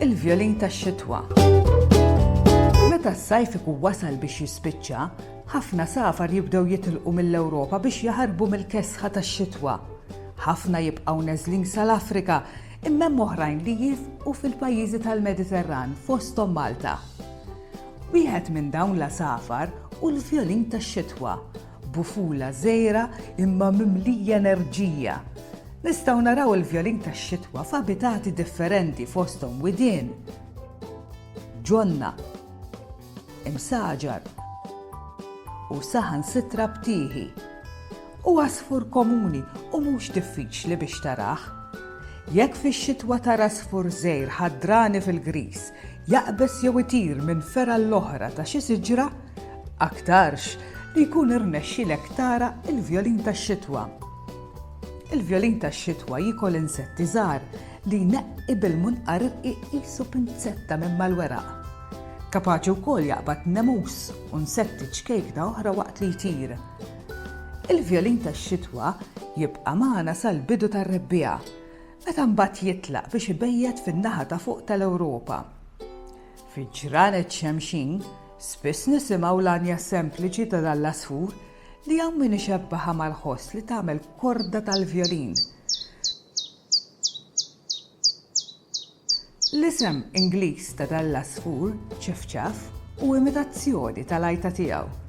il-vjolin tax-xitwa. Meta s-sajf ikun wasal biex jispiċċa, ħafna safar jibdew jitilqu mill-Ewropa biex jaħarbu mill-kesħa tax-xitwa. Ħafna jibqgħu neżlin sal-Afrika, imma hemm oħrajn li jifqu fil-pajjiżi tal-Mediterran fosthom Malta. Wieħed minn dawn l-għasafar hu l-vjolin tax-xitwa Bufula żgħira imma mimlija enerġija. Nistgħu naraw il-vjolin tax-xitwa f'abitati differenti fosthom widien, ġonna, imsaġar u saħansitra btieħi. Hu għasfur komuni u mhux diffiċli biex tarah. Jekk fix-xitwa tara għasfur żgħir ħadrani fil-griż jaqbeż jew itir minn fergħa l-oħra ta' xi siġra, Aktarx li jkun irnexxilek tara l-vjolin tax-xitwa. Il-vjolin tax-xitwa jiekol insetti żgħar li jneqqi bil-munqar irqiq qisu pinzetta minn mal-weraq. Kapaċi wkoll jaqbad nemus u nsetti ċkejkna oħra waqt li jtir. Il-vjolin tax-xitwa jibqa' magħna sal-bidu tar-rebbiegħa, meta mbagħad jitlaq biex ibejjet fin-naħa ta' fuq tal-Ewropa. Fi ġranet Xemxin, spiss nisimgħu l-għanja sempliċi ta' dan l-għasfur li hawn min ixebbahha mal-ħoss li tagħmel korda tal-vjolin. L-isem Ingliż ta' dan l-għasfur, ċifċaf, hu imitazzjoni tal-għajta tiegħu.